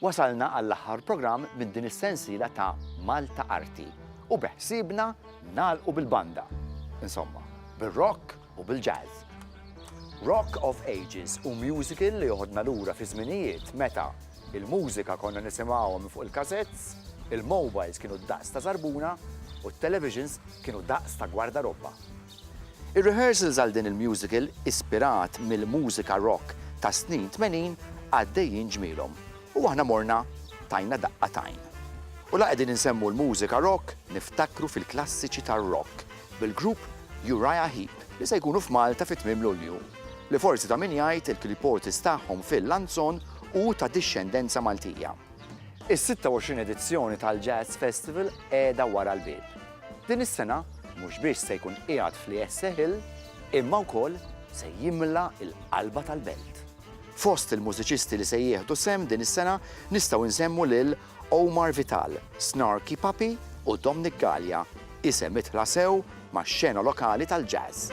Wasalna għall-aħħar programm minn din is-sensiela ta' Malta Arti u beħsiebna nagħlqu bil-banda. Insomma, bir-rock u bil-jazz. Rock of Ages hu musical li joħodna lura fi żminijiet meta il-mużika konna nisimgħuha minn fuq il-kasetts, il-mowbajls kienu d-daqs ta' żarbuna u t-televisions kienu daqs ta' gwardarobba. Ir-rehearsals għal din il-musical ispirat mill-mużika rock tas-snin tmenin għaddejjin ġmielhom u aħna morna tajna daqqa t'għajn. U la qegħdin insemmu l-mużika rock niftakru fil-klassiċi tar-rock bil-grupp Uriah Heep li se jkunu f'Malta fi tmiem Lulju, li forsi ta' min jgħid il-keyboardist tagħhom Phil Lanzon hu ta' dixxendenza Maltija. Is-26 edizzjoni tal-Jazz Festival qiegħda wara l-bieb. Din is-sena mhux biss se jkun qiegħed fl-ESSE Hill imma wkoll se jimla l-qalba tal-Belt. Fost il-mużiċisti li se jieħdu sehem din is-sena nistgħu nsemmu lil Omar Vital, Snarky Puppy u Domnic Galea, isem idħla sew max-xena lokali tal-jazz.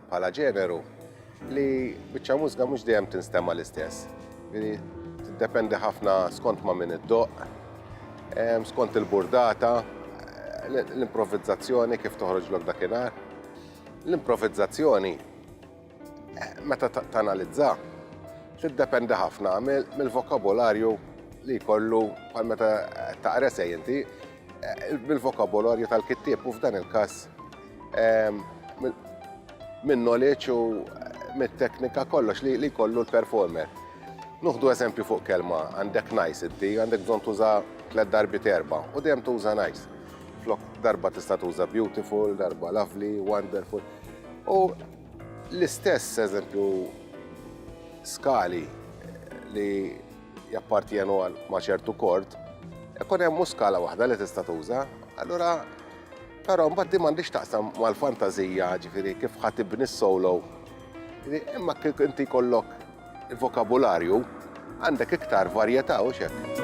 bħala ġeneru li biċċa mużga mhux dejjem tinstema' l-istess. Tiddependi ħafna skont ma' min iddoq, ehm, skont il-burdata, l-improvvizzazzjoni kif toħroġ lok dakinhar. L-improvvizzazzjoni eh, meta tanalizza tiddependi ħafna mill-vokabularju li jkollu bħal meta taqra sej inti, bil-vokabolarju tal-kittieb u f'dan il-każ ehm, minn knowledge u mit-teknika kollox li jkollu l-performer. Nuħdu eżempju fuq kelma, għandek nice iddi, għandek bżon tuża tlet darbi terba u dejjem tuża nice. Flok darba tista' tuża beautiful, darba lovely, wonderful. U l-istess eżempju skali li jappartjenu għal ma' ċertu kord, ikun hemm mhux skala waħda li tista' tuża. Allura però mbagħad din m'għandix taqsam mal-fantażija, ġifieri kif ħadd ibni s-solo. Imma kif inti jkollok il-vokabularju, għandek iktar varjetà u xek.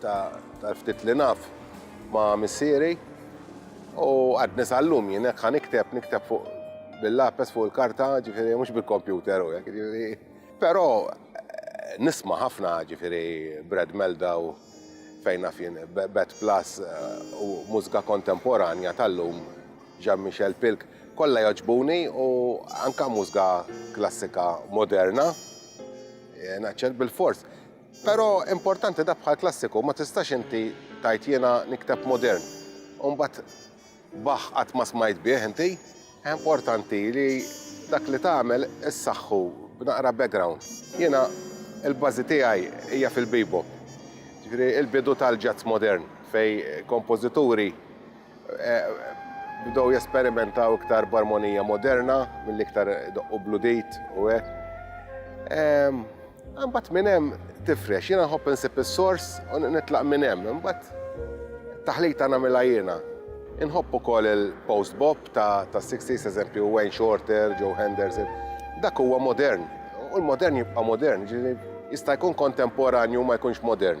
Tal-ftit li naf ma' missieri u għadni sal-lum jien hekk nikteb, nikteb fuq bil-lapes fuq il-karta, ġifieri mhux bil-kompjuter u hekk, ġifieri. Però nisma' ħafna ġifieri Brad Meldau fejn naf jien Bet Plus u mużika kontemporanja tal-lum Jean Michel Pilk kollha jogħġbuni u anke mużika klassika moderna naċċel bilfors Pero importanti da bħal klassiku ma tistax inti tajt jiena nikteb modern u mbagħad Bach qatt ma smajt bih inti. Importanti li dak li tagħmel issaħħu b'naqra background. Jiena il-bażi tiegħi hija fil-bebop. Ġifieri il-bidu tal-jazz modern fejn kompożituri bdew jesperimentaw iktar b'armonija moderna milli iktar idoqqu bl-udit u hekk. Ehm, imbagħad minn hemm tifrex, jiena nħobb insib is-sors u nitlaq minn hemm, imbagħad taħlita nagħmilha jiena. Inħobb ukoll il-post bop ta' 60s eżempju Wayne Shorter, Joe Henderson. Dak huwa modern u l-modern jibqa' modern, ġifieri jista' jkun kontemporanju ma jkunx modern.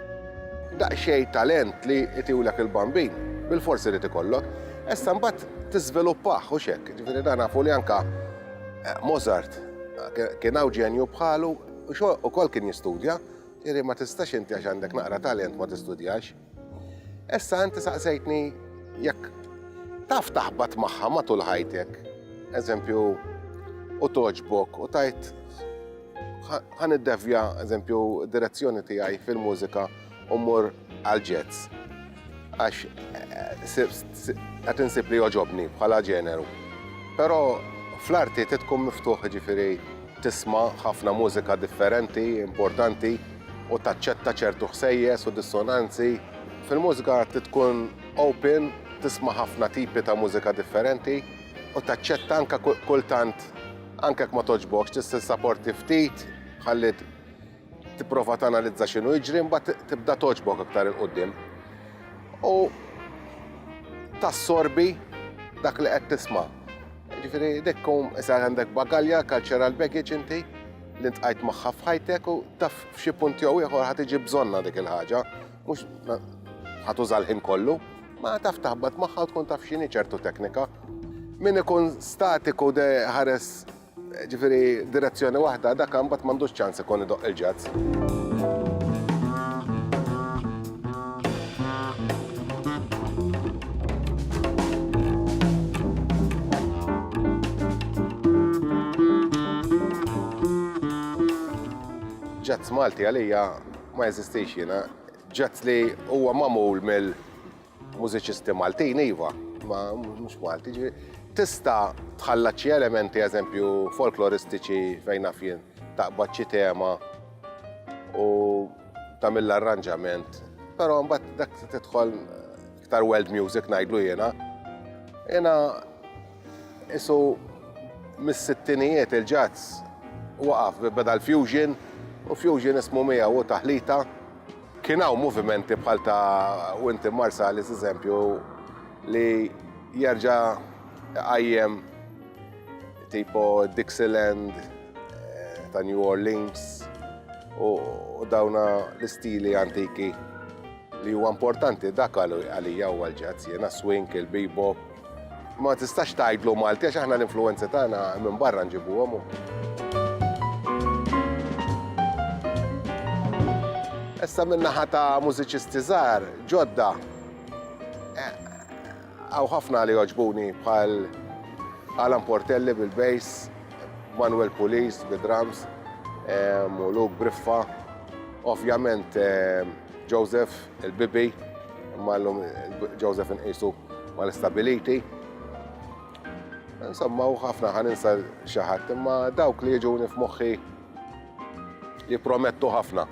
Daqsxejn talent li jtiulek il-bambin, bilfors irid ikollok, issa mbagħad tiżviluppah, hux hekk? Jiġifieri dan nafu li anke Mozart kien hawn ġenju bħalu ukoll kien jistudja, jiġifieri ma tistax inti għax għandek naqra talent ma tistudjax. Issa inti saqsejtni jekk taf taħbat magħha matul ħajtek, eżempju, u togħġbok u tgħid Ħan iddevja, eżempju, direzzjoni tiegħi fil-mużika u mmur għal ġezz. Għax qed insib li joġobni bħala ġeneru. Però fl-arti titkum miftuħ ġifieri tisma' ħafna mużika differenti, importanti, u taċċetta ċertu ħsejjes u dissonanzi. Fil-mużika titkun open, tisma' ħafna tipi ta' mużika differenti u taċċetta anka kultant Anke jekk ma togħġbokx tista' tissaporti ftit ħalli tipprova tanalizza x'inhu jiġri mbagħad tibda togħġbok aktar il quddiem. U tassorbi dak li qed tisma'. Ġifieri dik kum issa għandek bagalja, cultural baggage inti li ntqajt magħha f'ħajtek u taf f'xi punt jew ieħor ħad tiġi bżonna dik il-ħaġa. Mhux ħatuża l-ħin kollu, ma taf taħbat magħha u tkun taf x'inhi ċertu teknika. Min ikun statiku de ħares ġifieri direzzjoni waħda dak imbagħad m'għandux ċans ikun idoq il-ġazz. Ġazz Malti għalija Ma jeżistix jiena. Ġat li huwa magħmul mill-mużiċisti Maltin, iva, ma mhux Malti. Tista' tħallat xi elementi, eżempju, folkloristiċi fejn naf jien, taqbad xi tema u tagħmel arranġament, però mbagħad dak tidħol iktar world music ngħidlu jiena. Jiena Isu mis-sittinijiet il-ġazz waqaf beda l-fusion u fusion ismu mija u taħlita. Kien hawn movimenti bħal ta' Winti Marsalis eżempju li jerġa' qajjem tipo Dixieland eh, ta' New Orleans u dawna l-istili antiki li huwa importanti dak għalija huwa l-ġazz, jena swing, il-bebop, Ma tistax tgħidlu Malti għax aħna l-influenzi tagħna minn barra nġibuhom. Issa min-naħa ta' mużiċisti żgħar ġodda għaw eh, ħafna li joġbuni bħal Alan Portelli bil-bass, Manuel Pulis bil-drums, eh, u Luke Briffa, ovvjament eh, Joseph Il-bibi, imma llum Joseph inqisu mal-istabiliti. Insomma, u ħafna ħan insa xi ħadd, imma dawk li jiġuni f'moħħi jippromettu ħafna.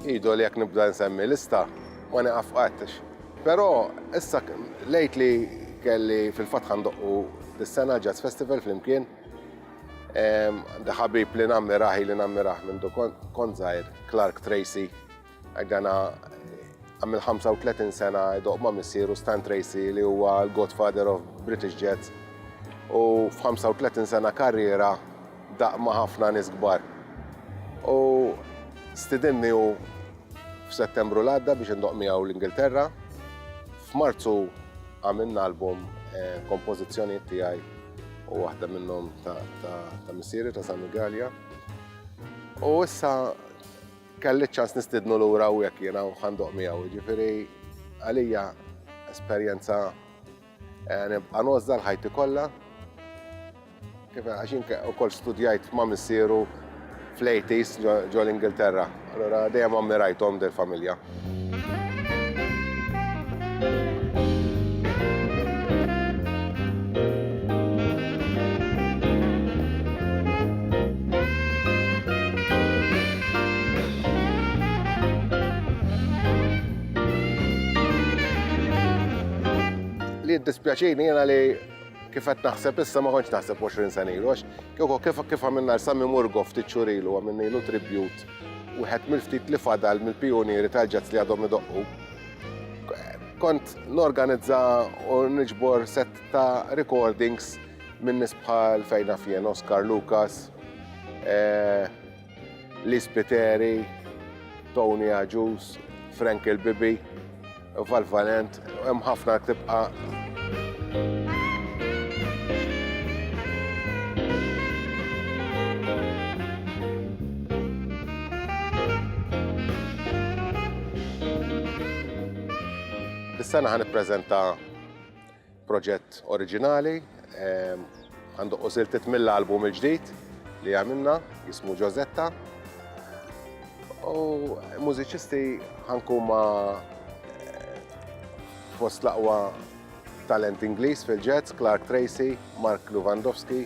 Idu li jekk nibda nsemmi lista ma nieqaf qatt. Però issa lejt li kelli fil-fatt ħandoqqu dis-sena Jazz Festival flimkien. Ħabib li nammirah li nammirah minn kont żgħir, Clark Tracy, Għana għamil 35 sena doq ma' missieru Stan Tracy li huwa l-godfather of British Jets u f-35 sena karriera daq ma' ħafna nis gbar. U stidinni u f-settembru l-għadda biex indoq miegħu l-Ingilterra. F'Marzu għamilna album eh, kompożizzjoni tiegħi u waħda minnhom ta' missieri ta' San Gallia. U issa Kelli ċ-ċans nistidnu lura u jekk jiena u ħandoq miegħu, jiġifieri għalija esperjenza eh, nibqa' nożda l-ħajti kollha. Kif għaxin ukoll studjajt ma' missieru fl-80s ġol Ingilterra. Allora dejjem ammirajthom del familja. Li jiddispjaċini jena li kifet naħseb issa ma konċ naħseb 20 sena ilu, għax kif kif għamilna l-Sammy Murgo ftit xurilu għamilna ilu tribute Wieħed mill-ftit li fadal mill-pijunieri tal-jazz li għadhom idoqqu. Kont norganizza u niġbor set ta' recordings minn nies bħal fejna fien Oscar Lucas, eh, Liz Piteri, Tony Aġus, Frank il-Bibi. Valvalent, hemm ħafna tibqa' Is-sena ħan ippreżenta Proġett oriġinali, għandu qosiltiet mill-album il-ġdid li għamilna, jismu Ġożetta. U mużiċisti ħankuma fost laqwa talent Ingliż fil-ġazz, Clark Tracy, Mark Lewandowski,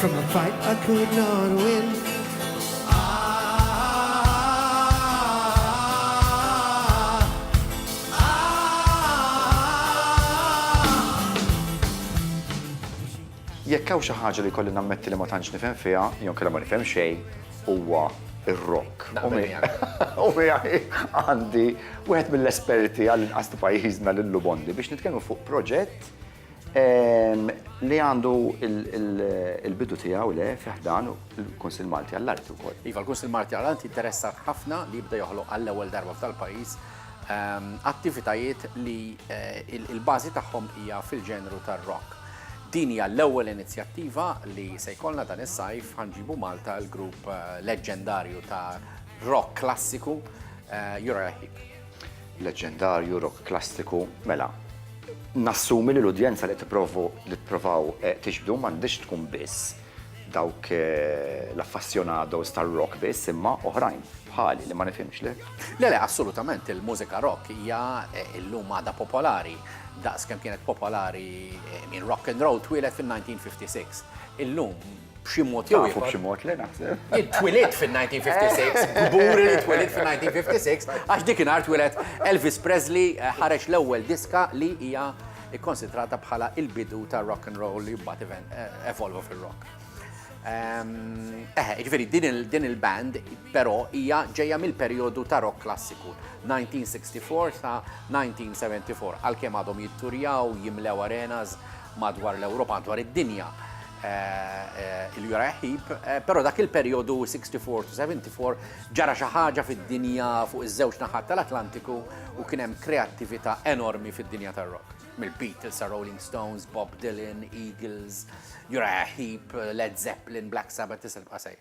From the fight I could not win. Jekk hawn xi ħaġa li jkolli nammetti li ma tantx nifhem fiha, jew inkella ma nifhem xejn, huwa r-rock. U miegħi għandi wieħed mill-esperti għall-inqas ta' pajjiżna lil Lou Bondi biex nitkellmu fuq proġett Li għandu il-bidu tiegħu le fi ħdan il-Kunsill Malti għall-Arti wkoll. Iva, l-Kunsill Malti għall-Arti interessat ħafna li jibda joħloq għall-ewwel darba f'dal-pajjiż ehm, attivitajiet li eh, il-bażi tagħhom hija fil-ġenru tar-rock. Din hija l-ewwel inizjattiva li se jkollna dan is-sajf ħanġibu Malta l-grupp eh, leġġendarju ta' rock klassiku eh, Jura Heap. Leġġendarju, rock klassiku, mela, nassumi li l-udjenza li t-provaw eh, tixbdu m'għandix tkun biss dawk eh, l-affassjonados tar-rock biss imma oħrajn bħali li ma nifhimx li. Le le, assolutament il-mużika rock hija eh, illum għada popolari daqs kemm kienet popolari minn rock and roll twielet fin-1956. Illum b'xi mod jew ieħor. b'xi mod li naħseb. Twilit fin-1956, gburi li twilit fin-1956, għax dik inhar twilet Elvis Presley eh, ħareġ l-ewwel diska li hija ikkonsidrata bħala il-bidu ta' rock and roll li mbagħad eh, evolva fil-rock. Ehm, eh, ġveri, din il-band, però hija ġejja mill-perjodu ta' rock klassiku, 1964 sa 1974, għal-kem għadhom jitturjaw, jimlew arenas madwar l-Ewropa, madwar id-dinja. il-Uriah Heep, pero dak il-perjodu 64-74 ġara xi ħaġa fid-dinja fuq iż-żewġ naħat tal-Atlantiku u kien hemm kreattività enormi fid-dinja tar-rock. Mill-Beatles sa Rolling Stones, Bob Dylan, Eagles, Uriah Heep, Led Zeppelin, Black Sabbath, tisel qasej.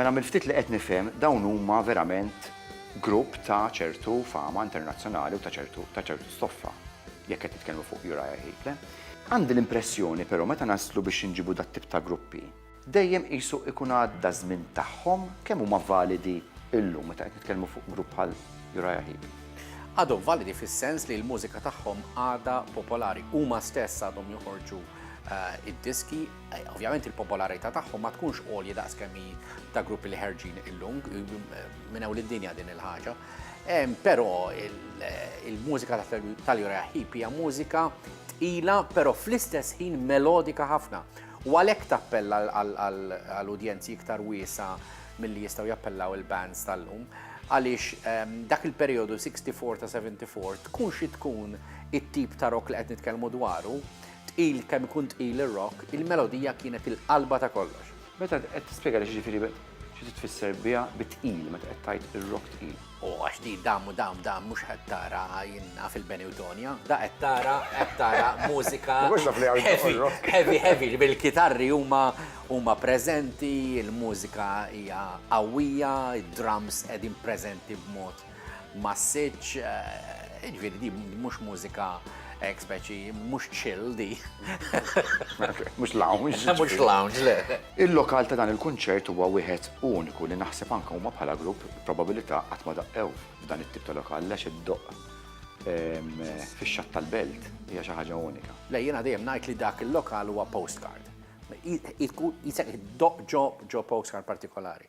Mela mill-ftit li qed nifhem dawn huma verament grupp ta' ċertu fama internazzjonali u ta' ċertu ta' ċertu stoffa, jekk qed nitkellmu fuq Uriah Heep, le? Għandi l-impressjoni però meta naslu biex inġibu dat-tip ta' gruppi, dejjem qisu ikun għadda ż-żmien tagħhom, kemm huma validi illum meta qed nitkellmu fuq grupp bħal Uriah Heep? Għadhom validi fis-sens li l-mużika tagħhom għadha popolari, huma stess għadhom joħorġu Eh, id-diski, eh, ovvjament il-popolarità tagħhom ma tkunx għolja daqs kemm ta' gruppi li ħerġin illum eh, minn hawn id-dinja din il-ħaġa. Però il-mużika tal-Jura Hip hija mużika tqila, però fl-istess ħin melodika ħafna. U għalhekk tappella għall-udjenzi iktar wiesa milli jistgħu jappellaw il-bands tal-lum għaliex dak il-periodu 64 ta' 74 tkun xi tkun it-tip ta' rock li qed nitkellmu dwaru, Tqil kemm ikun tqil ir-rock, il-melodija kienet il-qalba ta' kollox. Meta int qed tispjega li x'jiġifieri, xi trid tfisser biha bi tqil meta qed tgħid ir-rock tqil? O għax di da mu da da mhux qed tara jien naf il-Benewtonia. Da qed tara, qed tara mużika heavy, heavy, heavy li bil-kitarri huma huma preżenti, il-mużika hija qawwija, id-drums qegħdin preżenti b'mod massiċ, ġviri di mux mużika ek speċi, mux chill di. Mux lounge. Mux lounge, le. Il-lokal ta' dan il-kunċert huwa wieħed uniku li naħseb anka huma bħala grupp probabilità qatt ma daqqew f'dan it-tip ta' lokal għax id-doq fix-xatt tal-belt hija xi ħaġa unika. Le jiena dejjem ngħid li dak il-lokal huwa postcard. Jisek id-doq ġo postcard partikolari.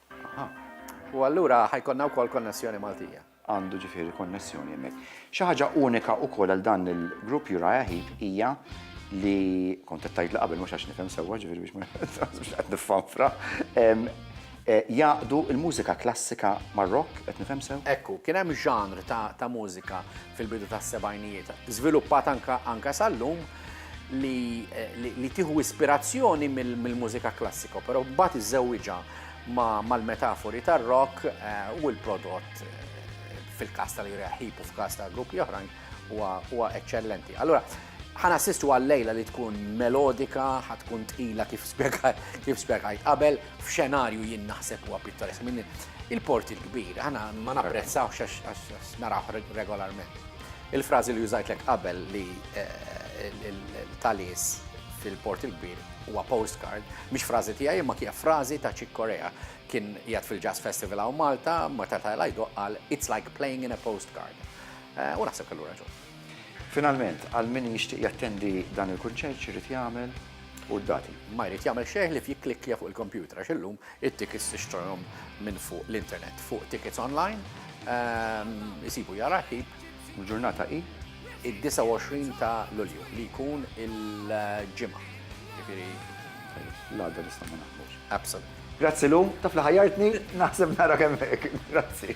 Aha. U allura ħajkonna wkoll konnessjoni Maltija. Għandu ġifieri konnessjoni hemmhekk. Xi ħaġa unika wkoll għal dan il-grupp Uriah Heep hija li kont qed tgħidli qabel mhux għax nifhem sewwa ġifieri biex mhux qed niffanfra. Eh, jaqdu il-mużika klassika mar-rock, qed nifhem sew? Ekku, kien hemm ġanr ta' mużika fil-bidu tas-sebgħinijiet, żviluppat anka sal-lum, li, li, li tieħu ispirazzjoni mill-mużika mil klassika, però mbagħad iżewwiġha mal-metafori ma tar-rock eh, u l-prodott eh, fil-każ tal-Ira Hip u f'każ ta' gruppi oħrajn huwa eċċellenti. Allora, ħana sistu għal-lejla li tkun melodika, ħatkun tqila kif spiegħajt qabel, f'xenarju jien naħseb huwa pittoresk minn il-porti l-kbir, ħana ma napprezzawx għax naraw regolarment. Il-frażi li użajtlek qabel li l-talies fil-Port il-Kbir huwa postcard, mhix frażi tiegħi imma hija frażi ta' Chick Corea. Kien qiegħed fil-Jazz Festival hawn Malta, meta tela' jdoqq qal It's like playing in a postcard. Eh, u naħseb kellu raġun. Finalment, għal min jixtieq jattendi dan il-kunċert x'irid jagħmel u d-dati. Ma jrid jagħmel xejn li f'jikklikkja fuq il-kompjuter għax illum It-tickets tixtrihom minn fuq l-internet fuq tickets online, isibu jara ħib. Il-ġurnata hi? Id-29 ta' Lulju li jkun il-Ġimgħa. Jiġifieri l-għada nistgħu ma naħdmux. Absolutely. Grazzi Lu, taf li ħajjartni, naħseb narak hemmhekk. Grazzi.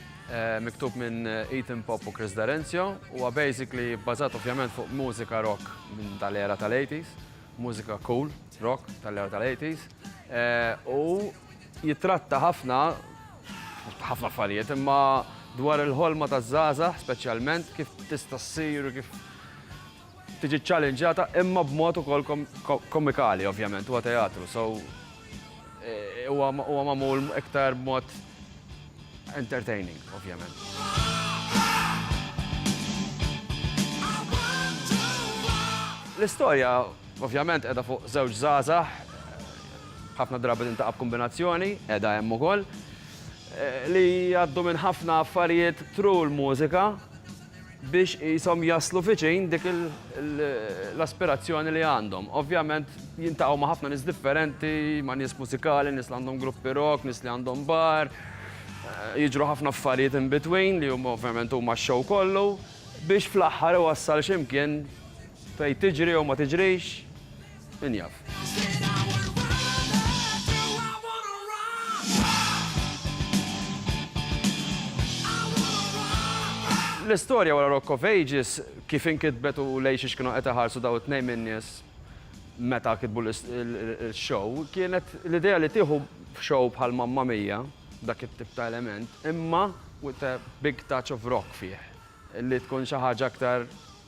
miktub minn Ethan Pop u Chris D'Arenzio, huwa basically bbażat ovvjament fuq mużika rock minn tal-era tal-80s, mużika cool rock tal-era tal-80s, u jitratta ħafna, ħafna affarijiet, imma dwar il-ħolma taż-żgħażagħ speċjalment, kif tista' ssir u kif tiġi ċċallinġjata imma b'mod ukoll komikali ovvjament, huwa teatru, so huwa magħmul iktar b'mod entertaining ovvjament. L-istorja ovvjament qiegħda fuq żewġ żgħażagħ, ħafna drabi tintaqa' b'kumbinazzjoni, qiegħda hemm ukoll, li jgħaddu minn ħafna affarijiet through l-mużika. biex qishom jaslu viċin dik l-aspirazzjoni li għandhom. Ovvjament jiltaqgħu ma' ħafna nies differenti, ma' nies mużikali, nies li għandhom gruppi rock, nies li għandhom bar, jiġru ħafna affarijiet in between li huma ovvjament huma x-show kollu biex fl-aħħar iwassal x'imkien fejn tiġri jew ma tiġrix. Min jaf. L-istorja wara Rock of Ages kif inkitbet u lejn xiex kienu qed iħarsu dawn it-tnejn min-nies meta kitbu l-show kienet l-idea li tieħu show bħal Mamma Mia, b'dak it-tip ta' element, imma with a big touch of rock fih, li tkun xi ħaġa aktar,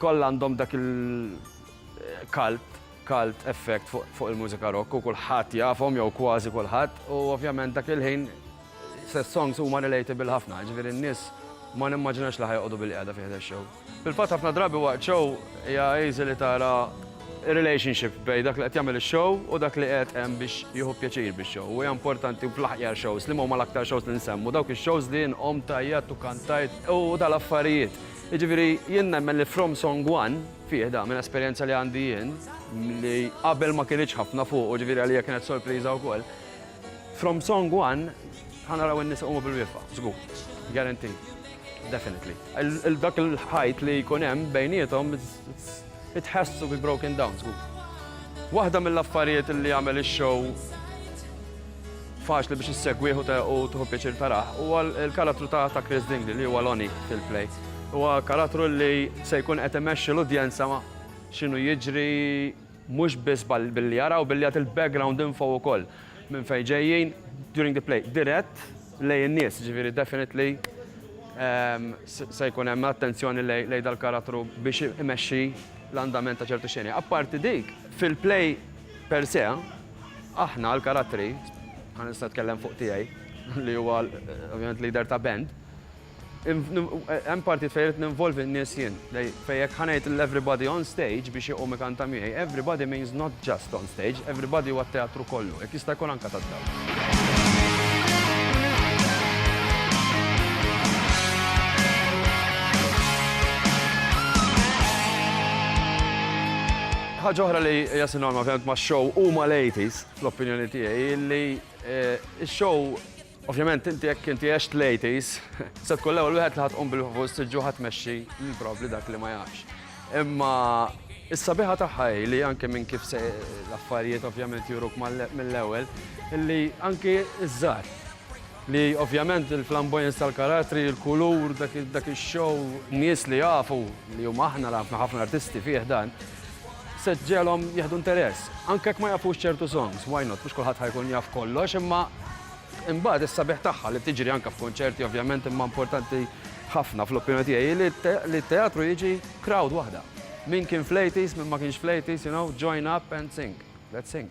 Kollha għandhom dak il-cult cult effect fuq il-mużika rock u kulħadd jafhom jew kważi kulħadd u ovvjament dak il-ħin s-songs huma relatable ħafna, jiġifieri n-nies ma nimmaġinax li ħa joqogħdu bilqiegħda fi ħdan show. Fil-fatt ħafna drabi waqt show hija easy li tara relationship bejn dak li qed jagħmel ix-show u dak li qiegħed hemm biex jieħu pjaċir bix-show. U hija importanti fl-aħjar shows liema huma l-aktar shows li nsemmu, dawk ix-shows li jien qomt, għajjatt u kantajt u dal-affarijiet. Jiġifieri jien nemmen li From Song One, fih dan, minn esperjenza li għandi jien, li qabel ma kinitx ħafna fuqu, jiġifieri għalija kienet sorpriża wkoll, From Song One ħa naraw in-nies iqumu bil-wieqfa, żgur. Guaranteed. Definitely. Dak il-ħajt li jkun hemm bejniethom, Itħassu bi broken down żgur. Waħda mill-affarijiet li jagħmel ix-show faċli biex issegwieħ u tuħu pjaċir taraħ huwa l-karattru ta' ta' Chris Dingli li huwa Lonnie fil-play. Huwa karattru li se jkun qed imexxi l-udjenza x'inhu jiġri Mhux biss billi jara u billi jagħti l-background info ukoll, minn fejn ġejjin, during the play, dirett lejn in-nies, jiġifieri definitely se jkun hemm attenzjoni lejn dal-karattru biex imexxi l-andament ta' ċertu xeni. Apparti dik, fil-play per se, aħna l-karattri, ħa nista' nitkellem fuq tiegħi li huwa ovvjament leader ta' band, Hemm partijiet fejn irrid ninvolvi n-nies jien. Fejn jekk ħa ngħid lil everybody on stage biex iqum ikanta miegħi, everybody means not just on stage, everybody huwa t-teatru kollu, jekk jista' jkun anke tad-dawl. Ħaġa oħra li hija sinonima ovvjament max-show u mal-80s, fl-opinjoni tiegħi, hi li x-show, Ovvjament inti jekk inti għext l-80s, se tkun l-ewwel wieħed li ħa tqum bil-ħvus tiġġu ħa tmexxi lil probabbli dak li ma jafx. Imma is-sabiħa tagħha hi li anke minn kif se l-affarijiet ovvjament juruk mill-ewwel, li anke iż-żgħar li ovvjament il-flamboyance tal-karattri, il-kulur, dak ix-show, nies li jafu li huma aħna ħafna artisti fih dan, se ġġegħelhom jieħdu interess. Anke jekk ma jafux ċertu songs, why not, mhux kulħadd ħa jkun jaf kollox, imma imbagħad is-sabiħ tagħha li tiġri anke f'kunċerti ovvjament imma importanti ħafna fl-opinjoni tiegħi li t-teatru jiġi crowd waħda. Min kien fl-80s, min ma kienx fl-80s, you know, join up and sing. Let's sing.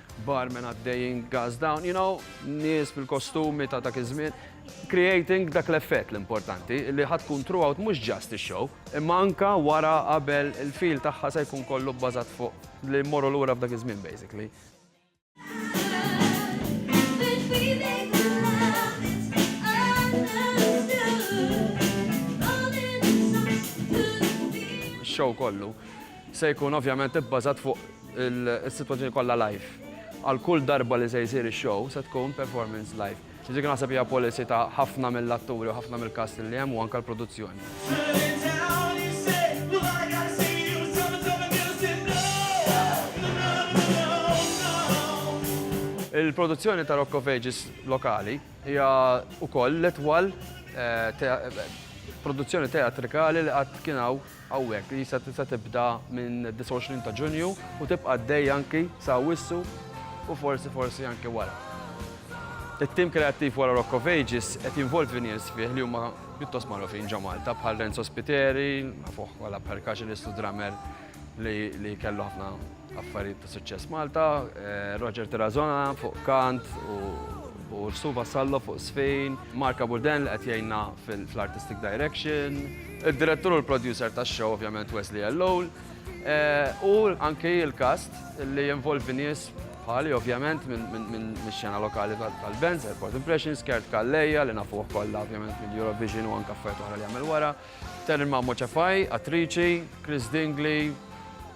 Barmen għaddejjin gas down, you know, nies bil-kostumi ta' dak iż-żmien, creating dak l-effett l-importanti li ħa tkun throughout mhux just ix-show, imma anke wara qabel il-feel tagħha se jkun kollu bbażat fuq li mmorru lura f'dak iż-żmien basically. Show kollu. Se jkun ovvjament ibbażat fuq is-sitwazzjoni kollha live. Għal kull darba li se jsir ix-show se tkun performance live. Dik naħseb hija policy ta' ħafna mill-atturi u ħafna mill-cast li hemm u anke l-produzzjoni. Il-produzzjoni ta' Rock of Ages lokali hija wkoll l-itwal produzzjoni teatrikali li qatt kien hawn hawnhekk, li se se tibda minn 29 ta' Ġunju u tibqa' għaddejja anki sa Awwissu u forsi forsi anki wara. It-tim kreattiv wara Rock of Ages qed jinvolvi nies fih li huma pjuttost magħrufin ġo Malta bħal Renzo Spiteri, nafuh bħala percussionist u drummer li kellu ħafna Affarijiet ta' Suċċess Malta, Roger Terrazona fuq kant u Sue Vassallo fuq żfin, Mark Abuden li qed jgħinna fl-artistic direction, id-direttur u l-producer tax-show ovvjament Wesley Elloul, u anki l-cast li jinvolvi nies bħali ovvjament mix-xena lokali tal-bands, Airport Impressions, Kurt Calleja li nafuh kollha ovvjament mill-Eurovision u anke affarijiet oħra li għamel wara, Terry Mammo Cefai, attriċi, Chris Dingley,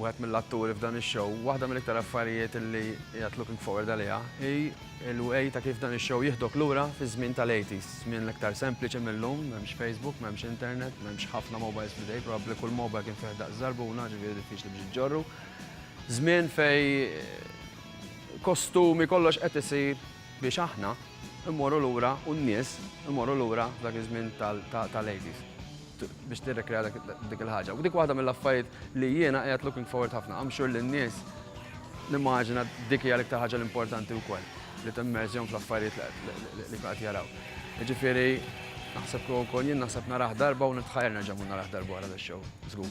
Wieħed mill-atturi f'dan ix-show, waħda mill-iktar affarijiet li qiegħed looking forward għaliha hi l-way ta' kif dan ix-show jieħdok lura fiż-żmien tal-eighties, żmien l-iktar sempliċi mill-lum, m'hemmx Facebook, m'hemmx internet, m'hemmx ħafna mobiles f'idejk, probabbli kull mobile kien fih daqs żarbuna, ġifieri diffiċli biex iġġorru. Żmien fejn kostumi, kollox qed isir biex aħna mmorru lura u n-nies imorru lura f'dak iż-żmien tal-eighties. biex tirrekrea dik il-ħaġa. U dik waħda mill-affarijiet li jiena qiegħed looking forward ħafna. I'm sure li n-nies nimmaġina dik hija l-iktar ħaġa l-importanti wkoll li timmerżjhom fl-affarijiet li qed jaraw. Ġifieri naħseb kieku wkoll jien naħseb naraħ darba u nitħajr nerġa' mhu naraħ darba wara l-show. Żgur.